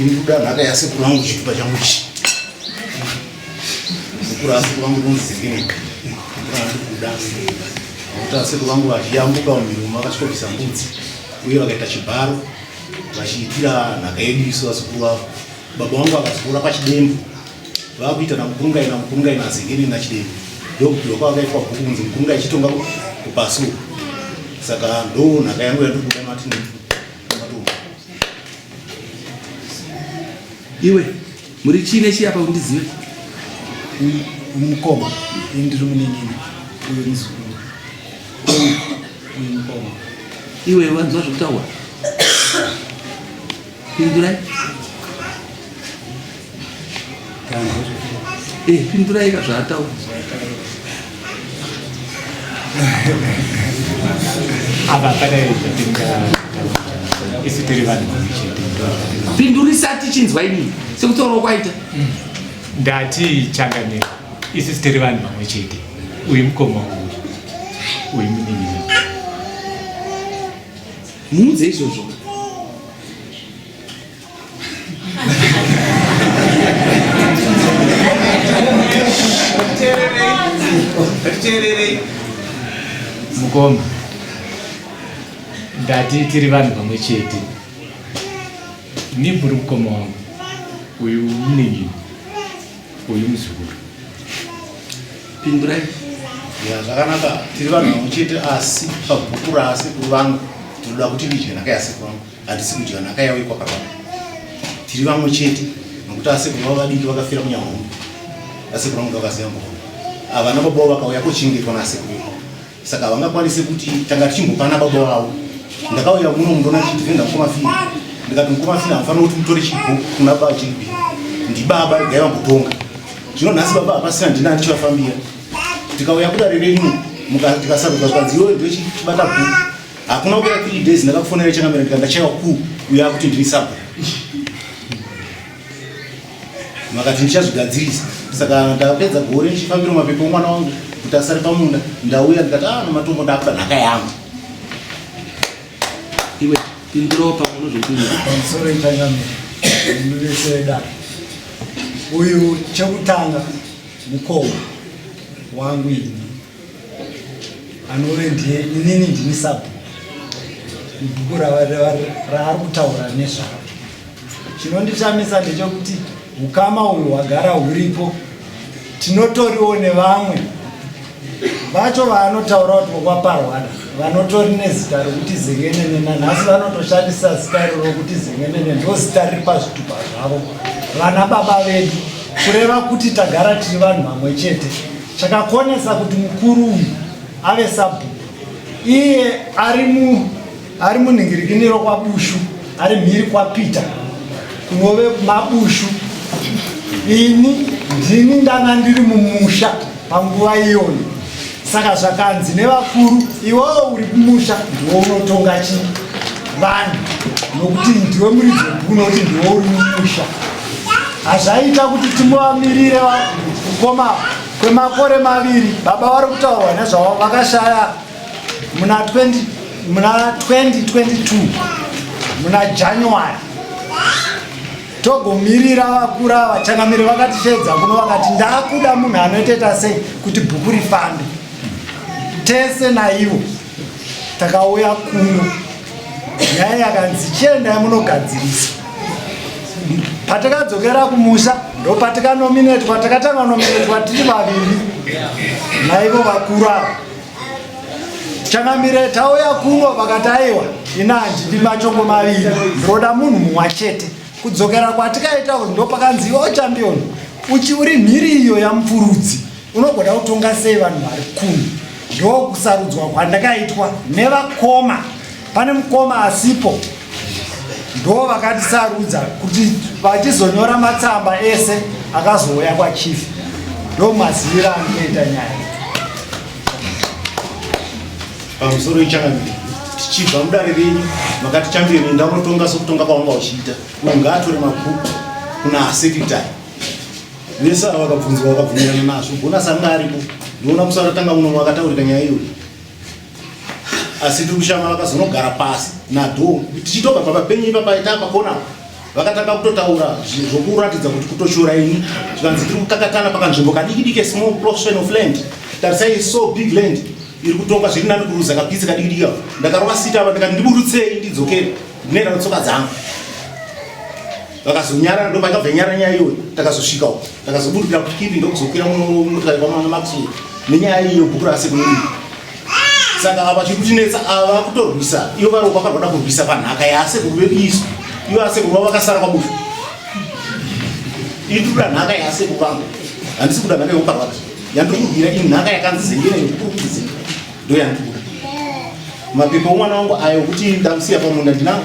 Inikuda nhaka yasekuru vangu chitupa changu chi sekuru asekuru vangu ndonzivire ndikuda nokuti asekuru vangu vachiyambuka mumirumo vakasvikobvisa mbudzi uye vakaita chibharo vachiitira nhaka yedu isu vasekuru vavo baba vangu vakazikura pachidembo vakuita namukurungai namukurungai nazengeni nachidembo ndokubvirwa kwavakaitwa bhuku kunzi mukurungai chitonga kupasuka saka ndo nhaka yangu yandikuda mati Iwe muri chii nechii apa undizive? Mukoma ini ndiri munin'ina uyo muzukuru uyu mukoma. Iwe wanzwa zvekutaura? Pindurai. Eh, pindurai ka zvaataura apa padai isu tiri vanhu pindurisa tichinzwa ini sekutaura kwaita ndati changanira isu tiri vanhu vamwe chete uyu mukoma uyu uyu muninini muudze izvozvo mukoma ndati tiri vanhu vamwe chete niburi mukoma wangu uyu muninini uyu muzukuru pindurai ya zvakanaka tiri vanhu vamwe chete asi pabhuku rasekuru vangu tinoda kuti ndidye nhaka yasekuru vangu Hatisi kudya nhaka yavo ikwakababa. Tiri vamwe chete nokuti asekuru vavo vadiki vakafira kunyahombe. Asekuru vangu vakaziva mbogo. Havana baba vavo vakauya kochengetwa naasekuru ivavo. Saka havangakwanise kuti tanga tichimbopana baba vavo. Ndakauya muno mundona tichidhivenda mukoma fini. Ndikati mukoma fini hamufanira kuti mutore chibhuku kuna baba chiribi. Ndibaba regai vambotonga. Zvino nhasi baba hapasina ndina andichivafambira. Tikauya kudare renyu tikasarudza zvikanzi iwe ndochibata bhuku. Hakuna kupera 3 days ndakakufonera chakamera ndikanga chaiwa ku uya kuti ndiri sabra. Makati ndichazvigadzirisa. Saka ndakapedza gore ndichifambira mapepo mwana wangu kuti asare pamunda ndauya ndikati ah namatombo ndakuda nhaka yangu. Iwe pindirawo pamwe unozvipinda. Sorry Tangame. Ndiveseda. Uyu chekutanga mukoma wangu ini. anove ndiye inini ndini sabhuku ibhuku raari kutaura nezvaro chinondichamisa ndechokuti ukama uyu hwagara huripo tinotoriwo nevamwe vacho vaanotaura kuti vokwaparwada vanotori nezita rokuti zengenene nanhasi vanotoshandisa zita iro rokuti zengenene ndozita riri pazvitupa zvavo vana baba vedu kureva kuti tagara tiri vanhu vamwe chete Chakakonesa kuti mukuru uyu ave sabhuku iye ari mu ari munhingirikiniro kwaBushu ari mhiri kwaPeter kunove maBushu ini ndini ndanga ndiri mumusha panguva iyona saka zvakanzi nevakuru iwewo uri kumusha ndiwo unotonga chi vanhu nokuti ndiwe muridzi webhuku nokuti ndiwo uri mumusha hazvaita kuti timuvamirire kukoma kwemakore maviri baba vari kutaurwa nezvavo vakashaya muna 2022 muna january togomirira vakura vachangamiri vakatishedza kuno vakati ndakuda munhu anoiteta sei kuti bhuku rifambe tese naivo takauya kuno nyaya yakanzi chiendai munogadzirisa patakadzokera kumusha ndopatikanominetwa takatanga nominetwa tiri vaviri naivo vakuru ava changamire tauya kuno vakataiwa ina handidi machongo maviri ndoda munhu mumwa chete kudzokera kwatikaita ndopakanzi iwe uchambioni uchi uri mhiri iyo yamupfurudzi Unogona kutonga sei vanhu vari kumi? Ndokusarudzwa kwandakaitwa nevakoma. Pane mukoma asipo ndo vakatisarudza kuti vachizonyora matsamba ese akazouya kwachief ndo maziviro anotoita nyaya pamusoro ichangamiri tichibva mudare renyu makati chambirini ndaunotonga sokutonga kwavanga uchiita ungatore mabhuku kuna sekretary vese ava vakabvunzwa vakabvumirana nazvo gona sanga aripo ndiona musi akatanga muno vakataurika nyaya iyoyo asi tiri kushama vakazonogara pasi nadho tichitobva papa penyu ipapa ita pakona vakatanga kutotaura zvokuratidza kuti kutoshora ini zvikanzi tiri kukakatana pakanzvimbo kadiki diki small portion of land tarisai so big land iri kutonga zviri nani kuruza kapisi kadiki diki ndakarova sita apa ndikati ndiburutsei ndidzokere ndinoenda netsoka dzangu vakazonyarara ndo vakabva nyara nyaya iyoyo takazosvika uko takazoburukira kukipi ndokuzokwira motokari kwamana maxwell nenyaya iyo bhuku rasekunii saka ava chiri kutinetsa ava vakutorwisa ivo vari vaka vada kurwisa panhaka yasekuru vekuisu ivo asekuru vavo vakasara kwabufu iri tikuda nhaka yasekuru vangu handisi kuda nhaka yekuparwaka yandiri kudira i nhaka yakanzi zengene yekukuru kuti zenga ndo yandiri kuda mapepa omwana wangu ayo kuti ndamusiya pamunda ndinango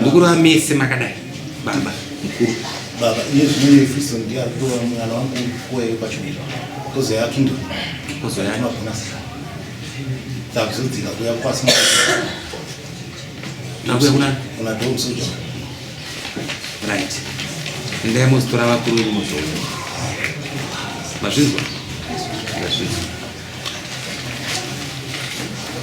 mukuru amese makadai baba mukuru baba iye zvine efriso ndiye ari kutora mwana wangu kuwaye pachibira kozoya atundo kozoya anogona sika takuzodzika kuya kwasi nakuya kuna kuna dom soja right ndaya mozitora vakuru wenyu mozoona mazvinzwa mazvinzwa